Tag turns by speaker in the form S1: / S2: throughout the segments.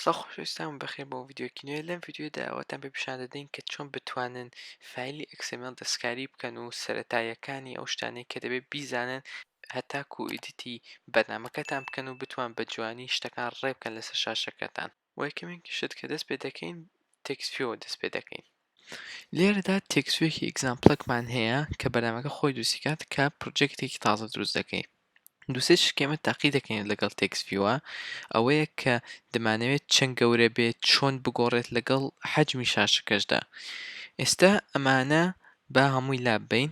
S1: سڵاو خۆشەویستان بەخێر بۆ ڤیددیوکی نوێ لەم ڤیددیودا ئەوەتان پێ پیشان دەدەین کە چۆن بتوانن فایلی ئەکسمل دەستکاری بکەن و سەتاییەکانی ئەو شتانەی کە دەبێت بیزانن هەتاکو ئیدیتی بەرنمەکەتان بکەن و بتوان بە جوانی شتەکان ڕێبکەن لەسەر شاشەکەتان وە یەکەمین شت کە دەست پێ دەکەین تێکست فیۆوە دەست پێ دەکەین لێرەدا تێکست فیۆکی ئیگزامپڵێکمان هەیە کە بەرنامەکە خۆی دروستی کات کە پڕۆجێکتێکی تازە دروست دەکەین دوو سێ شت کە ئێمە تاقی دەکەین لەگەڵ تێکست فیۆوە ئەوەیە کە دەمانەوێت چەند گەورە بێت چۆن بگۆڕێت لەگەڵ حەجمی شاشەکەشدا ئێستا ئەمانە با هەمووی لاببەین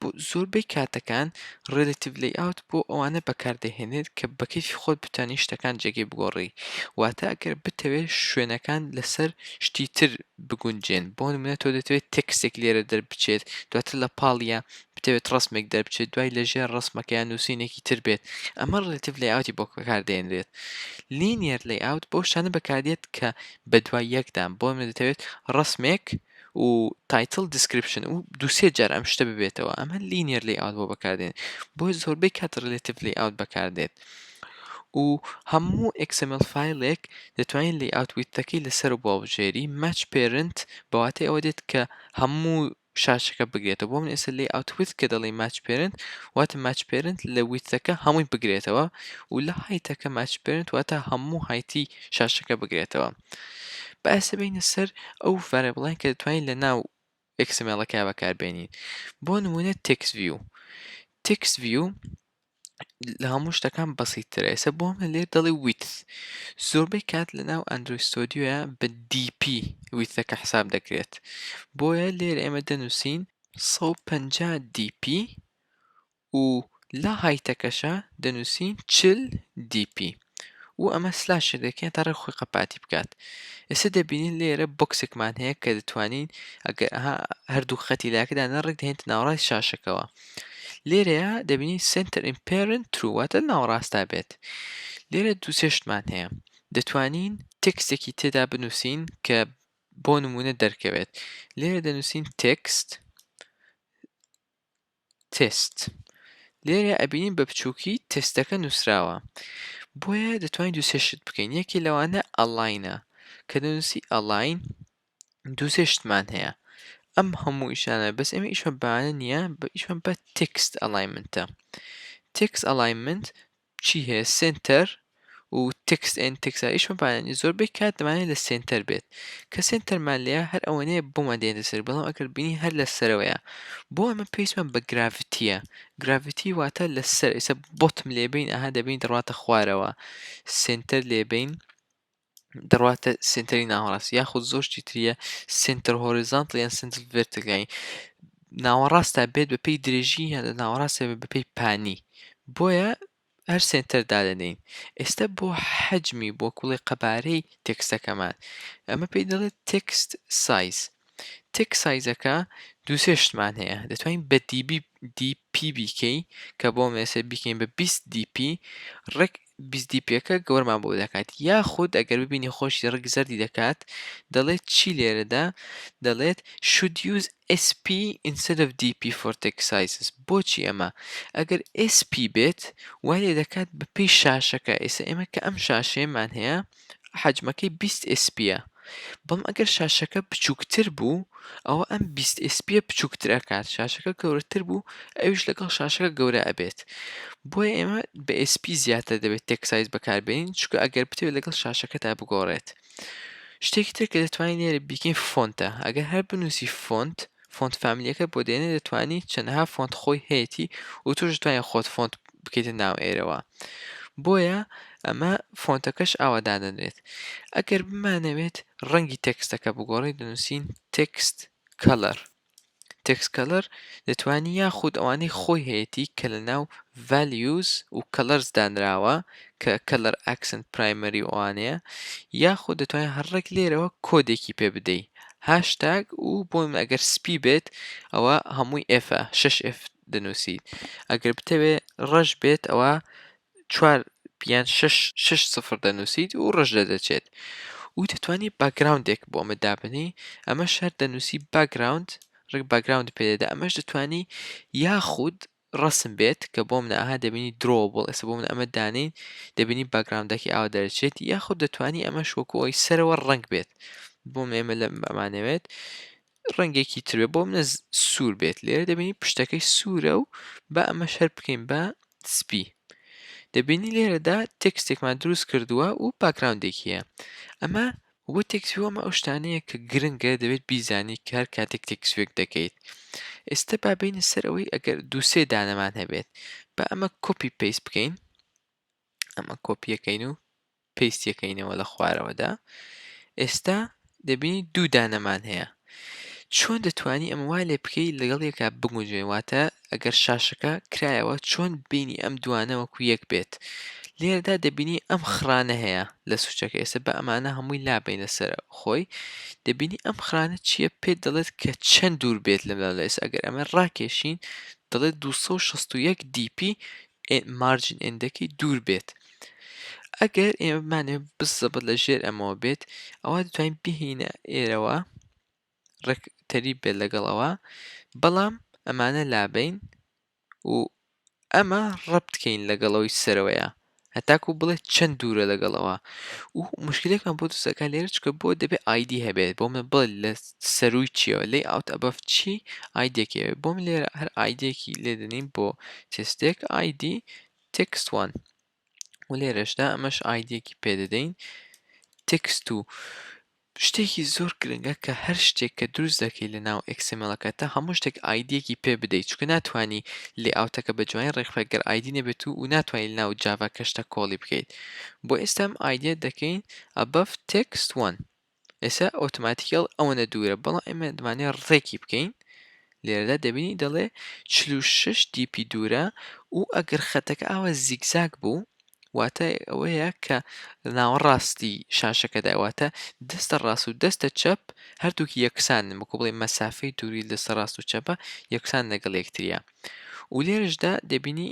S1: بۆ زۆربەی کاتەکان Relative Layout بۆ ئەوانە بەکاردەهێنێت کە بە کەیفی خۆت بتوانی شتەکان جێگەی بگۆڕی واتە ئەگەر بتەوێت شوێنەکان لەسەر شتی تر بگونجێن بۆ نمونە تۆ دەتەوێت تێکستێک لێرە دەربچێت دواتر لە پاڵیە بتەوێت ڕسمێک دەربچێت دوای لەژێر ڕسمەکەیان نووسینێکی تر بێت ئەمە Relative Layout بۆ بەکاردێنرێت Linear Layout بۆ شتانە بەکاردێت کە بە دوای یەکدان بۆ نمونە دەتەوێت ڕسمێک و تایتڵ دیسکریپشن و دوو سێ جار ئەم شتە ببێتەوە ئەمە لینیەر لەی ئاوت بۆ بەکاردێن بۆ زۆربەی کات ڕلێتیف لەی ئاوت بەکاردێت و هەموو XML فیلێک دەتوانین لەی ئاوت ویتەکەی لەسەر بۆ بژێری ماچ پێرنت بەواتەی ئەوە دێت کە هەموو شاشەکە بگرێتەوە بۆ من ئێستا لەی ئاوت ویت کە دەڵی ماچ پێرنت واتە ماچ پێرنت لە ویتەکە هەمووی بگرێتەوە و لە هایتەکە ماچ پێرنت واتە هەموو هایتی شاشەکە بگرێتەوە با ئێستا بێینە سەر ئەو ڤەرێبڵەیان کە دەتوانین لە ناو ئێکسمێڵەکەیا بەکار بێنین بۆ نمونە تێکس ڤیو تێکس ڤیو لە هەموو شتەکان بەسیترە ئێستا بۆ من لێ دەڵێ ویت زۆربەی کات لە ناو ئەندروی ستۆدیۆە بە DP ویتەکە حساب دەکرێت بۆیە لێر ئێمە دەنووسین 150 DP و لە هایتەکەشا دەنووسین چل دی پی و ئەمە سلاشێک دەکەین تا ڕێک خۆی قەپاتی بکات ئێستا دەبینین لێرە بۆکسێکمان هەیە کە دەتوانین ئەگەر ئەها هەردوو خەتی لاکەدا نەڕێک دەهێنتە ناوەڕاستی شاشەکەوە لێرەیە دەبینین سنتەر ئیمپێرن ترو واتە ناوەڕاستا بێت لێرە دوو سێ شتمان هەیە دەتوانین تێکستێکی تێدا بنووسین کە بۆ نمونە دەرکەوێت لێرە دەنووسین تێکست تێست لێرە ئەبینین بە بچوکی تێستەکە نوسراوە بۆیە دەتوانین دو سێ شت بکەین یەکێ لەوانە ئەڵاینە کە دەنوسی ئەڵاین دو سێ شتمان هەیە ئەم هەموو ئیشانە بەس ئێمە ئیشمان بانە نییە بە ئیشمان بە تێکست ئەڵایمنتە تێکس ئەڵایمنت چی هەیە سێنتەر و تێکست ئێن تێکست ە ئیشمان پێیان نیە زۆربەی کات دەمانەوێت لە سێنتەر بێت کە سێنتەرمان لێیە هەر ئەوەنەیە بۆمان دێنێتە سەر بەڵام ئەگەر بینی هەر لە سەرەوەیە بۆ ئەمە پێویستمان بە گراڤیتیە گراڤیتی واتە لە سەر ئیسە بۆتم لێبین ئەها دەبینیت دەڕواتە خوارەوە سێنتەر لێبین دەڕواتە سنتەری ناوەڕاست یاخود زۆر شتی تریە سنتەر هۆریزانتڵ یان سنتەر ڤێرتگای ناوەڕاستە بێت بە پێی درێژی یان لە ناوەڕاستە بێت بە پێی پانی بۆیە هەر سنتەر دادەنین ئێستا بۆ حەجمی بۆ کوڵی قەبارەی تێکستەکەمان ئەمە پێی دەڵێت تێکست سایز تێک سایزەکە دووسێ شتمان هەیە دەتوانین بە دیبی دیپی بیکەی کە بۆ مێسێ بیکەین بە 20 دیپی ڕێک بیستدیپێکە گەورەمان بۆ دەکات یاخود ئەگەر ببینی خۆشی ڕەگ زەردی دەکات دەڵێت چی لێرەدا دەڵێت should use SP instead of DP for text sizes بۆچی ئەمە ئەگەر SP بێت وای لێ دەکات بە پێی شاشەکە ئێستا ئێمە کە ئەم شاشەیەمان هەیە حەجمەکەی بیست ئێسپیە بەڵام ئەگەر شاشەکە بچووکتر بوو ئەوە ئەم بیست ئێسپیە بچووکتر ئەکات شاشەکە گەورەتر بوو ئەویش لەگەڵ شاشەکە گەورە ئەبێت بۆیە ئێمە بە ئێسپی زیاتر دەبێت تێکسایز بەکاربێنین چکە ئەگەر بتوێت لەگەڵ شاشەکەتا بگۆڕێت شتێکی تر کە دەتوانین لێرە بیکەین فۆنتە ئەگەر هەر بنووسی فۆنت فۆنت فامیلیەکە بۆ دێنێ دەتوانی چەنەها فۆنت خۆی هەیەتی و توش دەتوانی خۆت فۆنت بکەیتە ناو ئێرەوە بۆیە ئەمە فۆنتەکەش ئاوا دادەنرێت ئەگەر بمانەوێت ڕەنگی تێکستەکە بگۆڕی دەنووسین تێکست کەلەر تێکسکەلەر دەتوانی یاخود ئەوانەی خۆی هەیەی کە لە ناو values و کەلەرز دانراوە کە کەلەر ئەکسنت پرایمەری ئەوانەیە یاخود دەتوانین هەڕێک لێرەوە کۆدێکی پێ بدەی هاشتاگ و بۆم ئەگەر سپی بێت ئەوە هەمووی ئێفە شش ئف دەنووسیت ئەگەر بتەوێ ڕەش بێت ئەوە چوار یان شش شش سفر دەنووسیت و ڕژ لە دەچێت و دەتوانی باگراوندێک بۆ ئەمە دابنی ئەمە شەر دەنووسی باگراوند ڕێک باگراوند پێدەدا ئەمەش دەتوانی یاخود ڕەسم بێت کە بۆمنە ئەها دەبینی Drawable ئێستا بۆمنە ئەمە دانێین دەبینی باکگراوندەکەی ئاوا دەرەچێت یاخود دەتوانی ئەمەش وەکو ئەوەی سەرەوە ڕەنگ بێت بۆمنە ئێمە لە ئەمانەوێت ڕەنگێکی تر بێت بۆمنە سوور بێت لێرە دەبینی پشتەکەی سوورە و با ئەمە شەر بکەین بە سپی دەبینی لێرەدا تێکستێکمان دروست کردووە و باکگراوندێکیە ئەمە وە تێکسو ئەمە ئەو شتانەیە کە گرنگە دەبێت بیزانی کە هەر کاتێک تێکسوێک دەکەیت ئێستا با بێینە سەر ئەوەی ئەگەر دوو سێ دانەمان هەبێت با ئەمە کۆپی پەیست بکەین ئەمە کۆپیەکەین و پەیستیەکەینەوە لە خوارەوەدا ئێستا دەبینی دوو دانەمان هەیە چۆن دەتوانی ئەم وا لێ بکەی لەگەڵ یەکە بگونجێ واتە ئەگەر شاشەکە کرایەوە چۆن بینی ئەم دوانە وەکو یەک بێت لێرەدا دەبینی ئەم خڕانە هەیە لە سوچەکە ئێستا بە ئەمانە هەمووی لابینە سەر خۆی دەبینی ئەم خڕانە چییە پێت دەڵێت کە چەند دوور بێت لەم لە ئێستا ئەگەر ئەمە ڕاکێشین دەڵێت 261 DP مارجین ئێندەکەی دوور بێت ئەگەر ئێمە بمانێ بزەبت لە ژێر ئەمەوە بێت ئەوە دەتوانین بهینە ئێرەوە ڕێک تەریب بێت لەگەڵ ئەوە بەڵام ئەمانە لابەین و ئەمە ڕەبتکەین لەگەڵ ئەوی سەرەوەیە هەتاکو بڵێ چەند دوورە لەگەڵەوە و مشکلێکمان بۆ دەسەکە لێرە چکە بۆ دەبێت ئایدی هەبێت بۆ من بڵێ لە سەروی چیەوە لی ئاوت ئەبەف چی ئایدێکی بۆ من لێرە هەر ئایدێکی لێدەنین بۆ تستێک ئایدی تکسوان و لێرەشدا ئەمەش ئایدیەکی پێ دەدەین تێکست و شتێکی زۆر گرنگە کە هەر شتێک کە دروست دەکەی لە ناو ئەکسملەکەتە هەموو شتێک ئایدیەکی پێ بدەیت چکە ناتانی لێ ئاوتەکە بە جوانی ڕێکخگەر ئایدی نەبێت و ناتوانین ناو جااڤا کەشتە کۆڵی بکەیت بۆ ئێستام ئایدە دەکەین ئەبەف تێکست وان ئێستا ئۆتۆماتیکێڵ ئەوەندە دوورە بەڵام ئێمە دەمانێ ڕێکی بکەین لێرەدا دەبینی دەڵێ چل و شەش دیپی دوورە و ئەگەر خەتەکە ئاوا زیگزاگ بوو واتە ئەوەیە کە ناوەڕاستی شاشەکەدا واتە دەستە ڕاست و دەستە چەپ هەردووکی یەکسانن وەکو بڵێ مەسافەی دووری دەستە ڕاست و چەپە یەکسان لەگەڵ یەکتریە و لێرەشدا دەبینی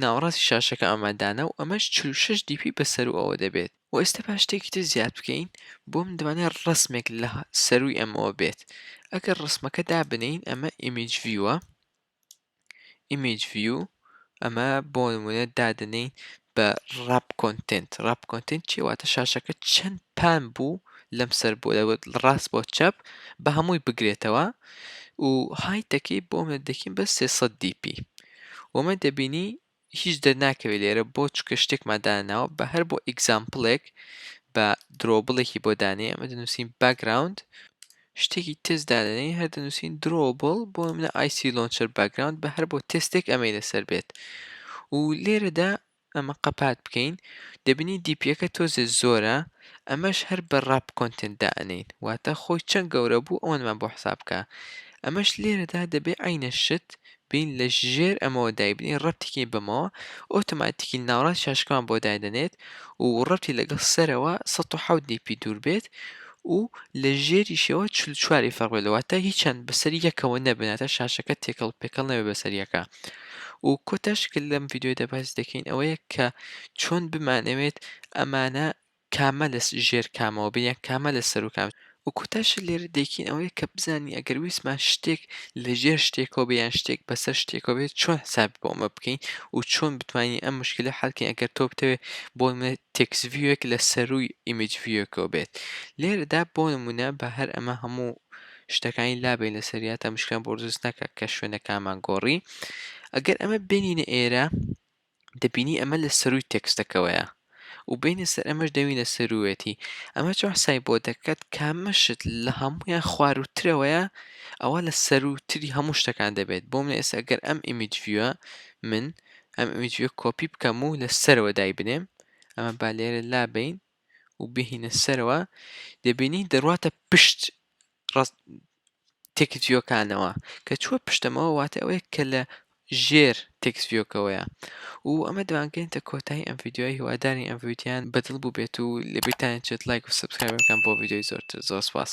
S1: ناوەڕاستی شاشەکە ئامادانە و ئەمەش چل و شەش دی پی بە سەروو ئەوە دەبێت وە ئێستا با شتێکی تر زیاد بکەین بۆ من دەمانێ ڕەسمێک لە سەرووی ئەمەوە بێت ئەگەر ڕەسمەکە دابنێین ئەمە ئیمیج ڤیوە ئیمیج ڤیو ئەمە بۆ نمونە دادنێین بە ڕاپ کۆنتنت ڕاپ کۆنتنت چی واتە شاشەکە چەند پان بوو لەم سەر بۆ دەوت ڕاست بۆ چەپ بە هەمووی بگرێتەوە و هایتەکەی بۆ منە دەکەین بە 300 دی پی وەمە دەبینی هیچ دەرناکەوێ لێرە بۆ چکە شتێکمان داناوە بە هەر بۆ ئیگزامپڵێک بە درۆبڵێکی بۆ دانێ ئەمە دەنووسین باگراوند شتێکی تێست دادەنین هەر دەنووسین درۆبڵ بۆ منە ئایسی لۆنچەر باگراوند بە هەر بۆ تێستێک ئەمەی لەسەر بێت و لێرەدا ئەمە قەپات بکەین دەبینین دیپیەکە تۆزێ زۆرە ئەمەش هەر بە ڕاپ کۆنتێنت دائەنێین واتە خۆی چەند گەورە بوو ئەوەنمان بۆ حساب بکە ئەمەش لێرەدا دەبێ عەینە شت بین لە ژێر ئەمەوە دایبنین ڕەپتیکەین بەمەوە ئۆتۆماتیکی ناوەڕاست شاشکەمان بۆ دایدەنێت و ڕەپتی لەگەڵ سەرەوە سەد و حەوت دیپی دوور بێت و لە ژێریشەوە چل و چوار ی فەرق بێت واتە هیچیان بەسەر یەکەوە نەبن واتە شاشەکە تێکەڵ پێکەڵ نەبێت بەسەر یەکا و کۆتاش کە لەم ڤیدیۆیدا باس دەکەین ئەوەیە کە چۆن بمانەوێت ئەمانە کامە لە ژێر کامەوە بن یان کامە لە سەر و کام و کۆتاش لێرە دەیکەین ئەوەیە کە بزانین ئەگەر ویستمان شتێک لە ژێر شتێکەوە بێ یان شتێک بەسەر شتێکەوە بێت چۆن حساب بۆ ئەمە بکەین و چۆن بتوانین ئەم مشکلە حەلکەین ئەگەر تۆ بتەوێت بۆ نمونە تێکست ڤیوێک لە سەرووی ئیمێج ڤیوێکەوە بێت لێرەدا بۆ نموونە با هەر ئەمە هەموو شتەکانی لابەین لەسەر یا تا مشکیان بۆ دروست نەکات کە شوێنەکانمان گۆڕی ئەگەر ئەمە بێنینە ئێرە دەبینی ئەمە لە سەرووی تێکستەکەوەیە و بینە سەر ئەمەش دەوینە سەروێتی ئەمە چۆن حسای بۆ دەکات کامەشت لە هەمویان خواروترەوەیە ئەوە لە سەروتری هەموو شتەکان دەبێت بۆ منە ئێستا گەر ئەم ئیمیج ڤیوە من ئەم ئیمجویە کۆپی بکەم و لە سەرەوە دایبنێم ئەمە با لێرە لابین و بهینە سەرەوە دەبینین دەڕواتە پشت تێکسڤیۆکانەوە کە چووە پشتەمەوە واتە ئەوەیە کە لە ژێر تێکسڤیۆکەوەیە و ئەمە دوانگەێنتە کۆتایی ئەم یددیوی هیوادارین ئەم ویددیان بەدڵ بوو بێت و لە بیرتان چێت لایک و سبسکرایبەکان بۆ یددیوی زۆرتر زۆر سپاس.